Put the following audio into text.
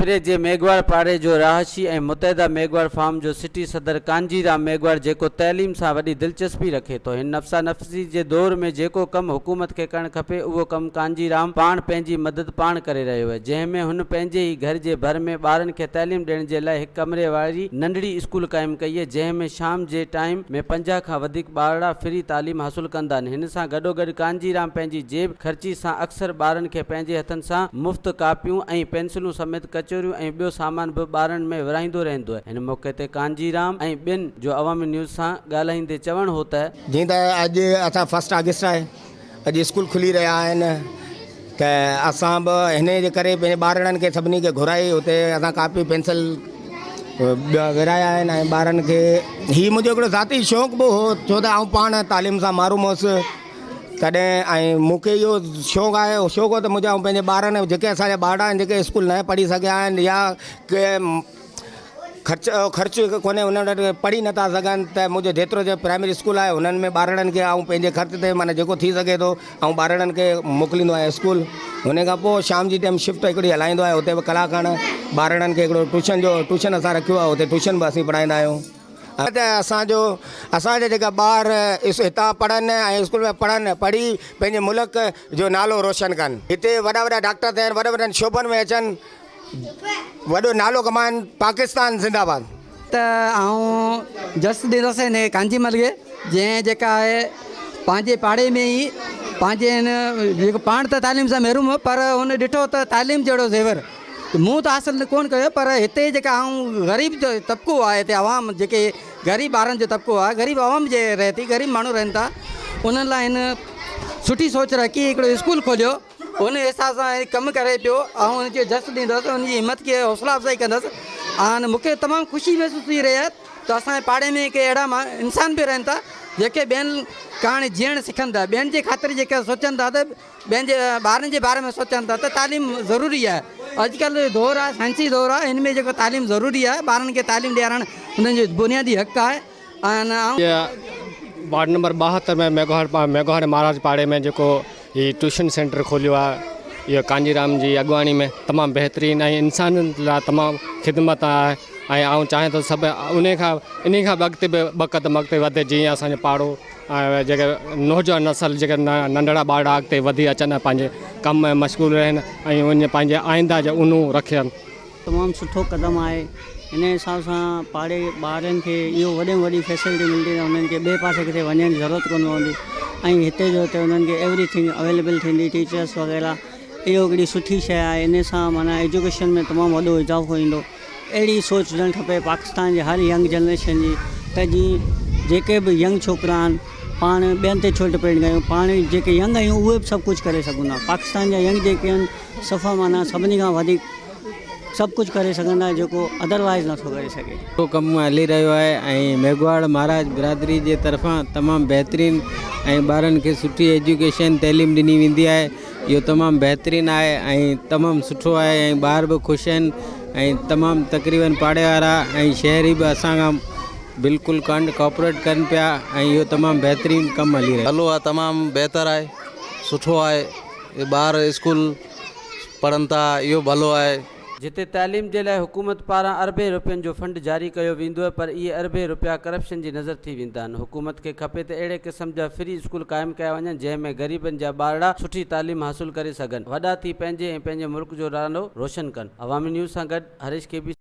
کپري جي ميگهواڙ پاڙي جو رهاشي ۽ متحده ميگهواڙ فارم جو سٽي صدر ڪانجي رام ميگهواڙ جيڪو تعليم سان وڏي دلچسپي رکي ٿو هن نفسانفسي جي جي دور ۾ جيڪو ڪم حڪومت کي ڪرڻ کپي اهو ڪم ڪانجي رام پاڻ پنهنجي مدد پاڻ ڪري رهيو هي جنهن ۾ هن پنهنجي ئي گهر جي ڀر ۾ ٻارن کي تعليم ڏيڻ جي لاء هڪ ڪمري واري ننڍڙي اسڪول قائم ڪئي هي جنهن ۾ شام جي ٽائيم ۾ پنجاهه کان وڌيڪ ٻارڙا فري تعليم حاصل ڪندان هن سان گڏوگڏ ڪانجي رام پنهنجي جيب خرچي سان اڪثر ٻارن کي پنهنجي هٿن سان مفت ڪاپيون ۽ پينسلون سميت ڪچوريون ۽ ٻيو سامان به ٻارن ۾ ورهائيندو رهندو هن موقعي تي ڪانجي رام ۽ ٻين جو عوامي نيوز سان ڳالهائيندي چوڻ هو ته جيئن ته اڄ اٿا فرسٽ آگسٽ آهي اڄ اسڪول کلي رهيا آهن ته اسان به هن جي ڪري پنهنجي ٻارڙن کي سڀني کي گهرائي اتي اسان ڪاپي پينسل ٻيا ورهايا آهن ۽ ٻارن کي هي منهنجو هڪڙو ذاتي شوق به هو ڇو ته آئون پاڻ تعليم سان محروم هوس تڏهن ۽ مونکي اهو شوق آهي شوق هو ته منهنجا پنهنجي ٻارن جيڪي اسان جا ٻارڙا آهن جيڪي اسڪول نه پڙهي سگهيا آهن يا ڪي خرچ خرچ هڪ ڪونهي هن وٽ پڙهي نٿا سگهن ته منهنجو جيترو جو پرائمري اسڪول آهي هنن ۾ ٻارڙن کي آئون پنهنجي خرچ تي معنی جيڪو ٿي سگهي ٿو آئون ٻارڙن کي موڪليندو آهيان اسڪول هن کان پوء شام جي ٽائيم شفٽ هڪڙي هلائيندو آهي هتي به ڪلاڪ کن ٻارڙن کي هڪڙو ٽوشن جو ٽوشن اسان رکيو آهي هتي ٽوشن به اسين پڙهائيندا آهيون ته اسانجو اسانجا جيڪا ٻار هتان پڙهن ۽ اسڪول ۾ پڙهن پڙهي پنهنجي ملڪ جو نالو روشن ڪن هتي وڏا وڏا ڊاڪٽر ٿين وڏن وڏن شعبن ۾ اچن وڏو نالو ڪمائن پاڪستان زنده باد. ته آئون جس ڏيندس هن ڪانجي مل کي جنهن جيڪا آهي پنهنجي پاڙي ۾ ئي پنهنجي هن جيڪو پاڻ ته تعليم سان محروم هو پر هن ڏٺو ته تعليم جهڙو زيور مون ته حاصل ڪونه ڪيو پر هتي جيڪا آئون غريب جو طبقو آهي هتي عوام جيڪي غريب ٻارن جو طبقو آهي غريب عوام جي رهي ٿي غريب ماڻهو رهن ٿا انهن لاء هن سٺي سوچ رکي هڪڙو اسڪول کوليو ان احساس سان هي ڪم ڪري پيو، آئون ان کي جس ڏيندس، ان جي همت کي حوصلا افزائي ڪندس ۽ مون کي تمام خوشي محسوس ٿي رهي آهي ته اسان جي پاڙي ۾ ڪي اهڙا انسان به رهن ٿا جيڪي ٻين ڪاڻ جيئڻ سکن ٿا، ٻين جي خاطر جيڪي سوچن ٿا ته ٻين جي ٻارن جي باري ۾ سوچن ٿا ته تعليم ضروري آهي، اڄڪلهه جو دور آهي سائنسي دور آهي ان ۾ جيڪو تعليم ضروري آهي، ٻارن کي تعليم ڏيارڻ انهن جو بنيادي حق آهي. آهن ۽. جي وارڊ نمبر ٻاهتر ۾ ميگهواڙ مهاراج پاڙي ۾ جيڪو هي ٽيوشن سينٽر کوليو آهي اهو ڪانجيرام جي اڳواڻي ۾ تمام بهترين ۽ انسان لاء تمام خدمت آهي ۽ آئون چاهيان ٿو سڀ انهي کان انهي کان به اڳتي به ٻه قدم اڳتي وڌي جيئن اسانجو پاڙو ۽ جيڪي نوجوان نسل جيڪي ننڍڙا ٻارڙا اڳتي وڌي اچن ۽ پنهنجي ڪم ۾ مشغول رهن ۽ ان پنهنجي آئنده جو اونو رکن تمام سٺو قدم آهي انهي حساب سان پاڙي ٻارن کي اهو وڏي ۾ وڏي فيسلٽي ملندي ته انهن کي ٻئي پاسي ڪٿي وڃڻ جي ضرورت ڪونه پوندي ۽ هتي جو هتي انهن کي ايوري ٿنگ اويليبل ٿيندي ٽيچرس وغيره اهو هڪڙي سٺي شي آهي انهي سان معنيٰ ايجوڪيشن ۾ تمام وڏو اضافو ايندو اهڙي سوچ هجڻ کپي پاڪستان جي هر ينگ جنريشن جي ته جي جيڪي به ينگ ڇوڪرا آهن پاڻ ٻين تي ڇو ڊپينڊ ڪيون پاڻ جيڪي ينگ آهيون اهي به سڀ ڪجهه ڪري سگهون ٿا پاڪستان جا ينگ جيڪي آهن صفا معنيٰ سڀني کان وڌيڪ سڀ ڪجهه ڪري سگهندڙ جيڪو Otherwise نٿو ڪري سگهي. اهو ڪم هلي رهيو آهي ۽ ميگهواڙ مهاراج برادري جي طرفان تمام بهترين ۽ ٻارن کي سٺي ايجوڪيشن تعليم ڏني ويندي آهي اهو تمام بهترين آهي ۽ تمام سٺو آهي ۽ ٻار به خوش آهن ۽ تمام تقريبن پاڙي وارا ۽ شهري به اسان کان بلڪل ڪانڊ ڪاپريٽ ڪن پيا ۽ اهو تمام بهترين ڪم هلي رهيو آهي. هلو آهي تمام بهتر آهي سٺو آهي اهي ٻار اسڪول پڙهن ٿا اهو ڀلو آهي. جتي تعليم جي لاء حڪومت پاران اربين روپين جو فنڊ جاري ڪيو ويندو پر اهي اربين روپيا ڪرپشن جي نظر ٿي ويندا آهن حڪومت کي کپي ته اهڙي قسم جا فري اسڪول قائم ڪيا وڃن جنهن ۾ غريبن جا ٻارڙا سٺي تعليم حاصل ڪري سگهن وڏا ٿي پنهنجي ۽ پنهنجي ملڪ جو نالو روشن ڪن عوامي نيوز سان گڏ هريش ڪي بي سي